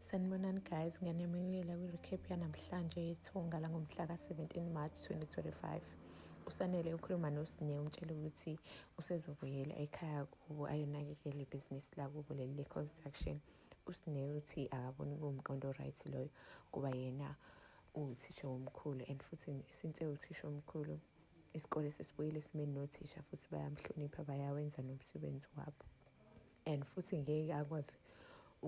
Sanibonani guys, ngiyanemukela kwi-recap yanamhlanje yethunga langomhla ka-17 March 2025. Usanele ukhuluma noSine umtshela ukuthi usezobuyela ekhaya kubo ayonakekela ibhizinisi lakubo leli le-construction. USine uthi akaboni kuwumqondo right loyo kuba yena uwuthisha womkhulu and futhi since ewuthisha womkhulu isikole sesibuyile esimeni nothisha futhi bayamhlonipha bayawenza nomsebenzi wabo. and futhi ngeke akwazi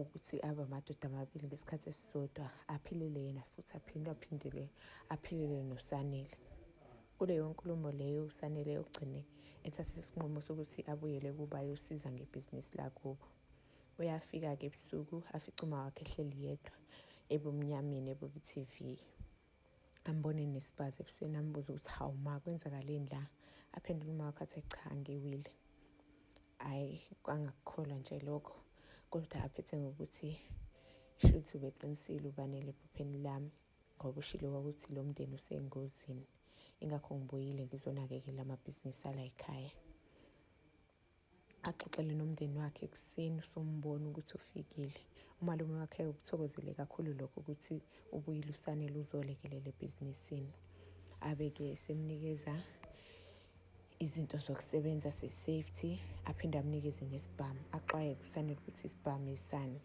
ukuthi abe amadoda amabili ngesikhathi esisodwa aphilele yena futhi aphinde aphindele aphilele nosanele kuleyo nkulumo leyo usanele ugcine ethathe isinqumo sokuthi abuyele kuba yosiza ngebhizinisi lakubo uyafika-ke ebusuku afice uma wakhe ehleli yedwa ebumnyameni ebuku-tv ambone nesibazi ebusweni ambuze ukuthi hawu ma kwenzakaleni la aphendule uma wakhe athe cha ngiwile hhayi kwangakukholwa nje lokho kodwa aphethe ngokuthi shuthi ubeqinisile ubanele ephupheni lami ngoba ushilo kwakuthi lo mndeni usengozini ingakho ngibuyile ngizonakekela amabhizinisi alayikhaya axoxele nomndeni wakhe ekuseni sombona ukuthi ufikile umalume wakhe ukuthokozele kakhulu lokho ukuthi ubuyile usane luzolekelela ebhizinisini abe-ke semnikeza izinto zokusebenza se-safety aphinde amnikeze nesibhamu axwaye kusanele ukuthi isibhamu isani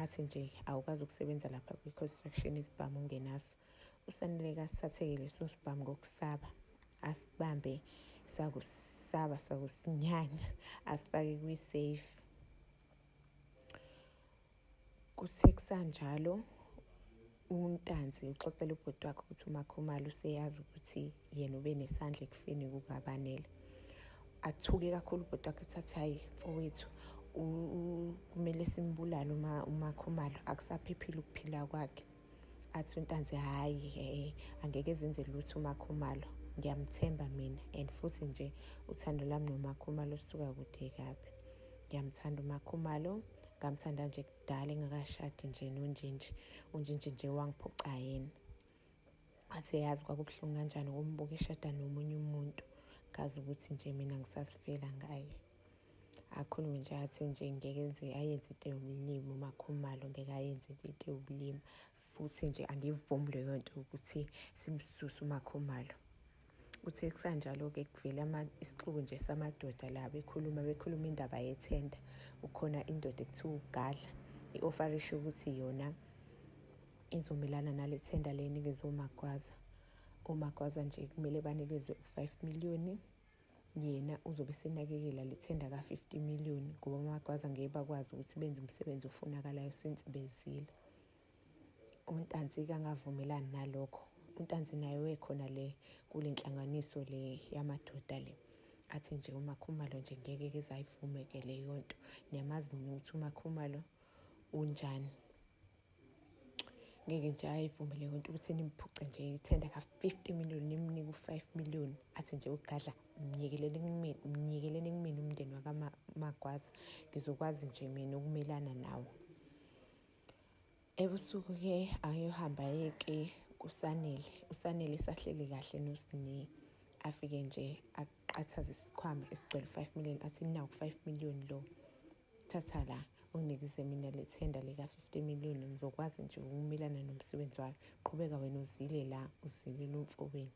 athi nje awukwazi ukusebenza lapha kwi-construction isibhamu ungenaso usanele kasithatheke leso sibhamu ngokusaba asibambe sakusaba sakusinyanya asifake kwi-safe kuthe kusanjalo untanzi uxoxela ubhuti wakhe ukuthi umakhumalo useyazi ukuthi yena ube nesandla ekufeni kukabanele athuke kakhulu ubhuti wakhe ukuthi athi hhayi mfowethu kumele simbulale umakhumalo akusaphephile ukuphila kwakhe athi untanzi hhayi hey angeke zenze lutho umakhumalo ngiyamthemba mina and futhi nje uthando lami nomakhumalo suka kude kabi ngiyamthanda umakhumalo ngamthanda nje kudala engakashadi nje nonjinji unjinji nje wangiphuca yena athe yazi kwakubuhlungu kanjani ukumbukishada nomunye umuntu ngazi ukuthi nje mina ngisasifela ngaye akhulume nje athi nje ngeke nje ayenze into yobulima umakhumalo ngeke ayenze into yobulima futhi nje angivumi leyo nto ukuthi simsuse umakhumalo kuthe kusanjalo-ke kuvele isixuku nje samadoda la bekhuluma bekhuluma indaba yethenda ukhona indoda ekuthiwa ugadla i-ofarisho ukuthi yona izomelana nale thenda leni ngezomagwaza omagwaza nje kumele banikezwe u-five miliyoni yena uzobe senakekela le thenda ka-50 million ngoba amagwaza ngeke bakwazi ukuthi benze umsebenzi ofunakalayo since bezile untanzi kangavumelani nalokho untanzi naye wekhona le kule nhlanganiso le yamadoda le athi nje umakhumalo nje ngeke kezayivume ke leyo nto niyamazi ukuthi umakhumalo unjani ngeke nje ayivumele leyo nto ukuthi nimphuce nje ithenda ka-fifty million nimnike u-five million athi nje ugadla mnyekeleni kumina mnyekeleni kumina umndeni wakamagwaza ngizokwazi nje mina ukumelana nawo ebusuku ke ayohamba yeke kusanele usanele sahleli kahle nosine afike nje aqathaze isikhwama esigcwele 5 million athi naku 5 million lo Thatha la, unginikise mina le thenda lika-50 million, ngizokwazi nje ukumelana nomsebenzi wami. Qhubeka wena uzile la, uzilile umfowenu.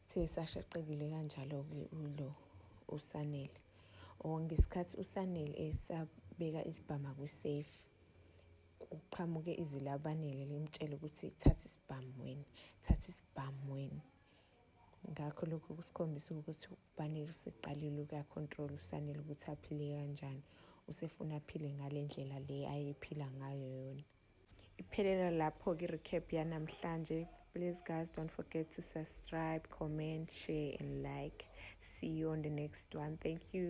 Uthe esashaqekile kanjalo-ke ulo uSanele. O oh, ngesikhathi uSanele esabeka isibhama kwiseyifu kuqhamuke izwi labanele limtshela ukuthi thatha isibhamu wena thatha isibhamu wena ngakho lokhu kusikhombisa ukuthi ubanele useqalile ukuyakhontrola usanele ukuthi aphile kanjani usefuna aphile ngale ndlela le ayephila ngayo yona iphelela lapho-ke i-recap yanamhlanje please guys don't forget to subscribe comment share and like see you on the next one thank you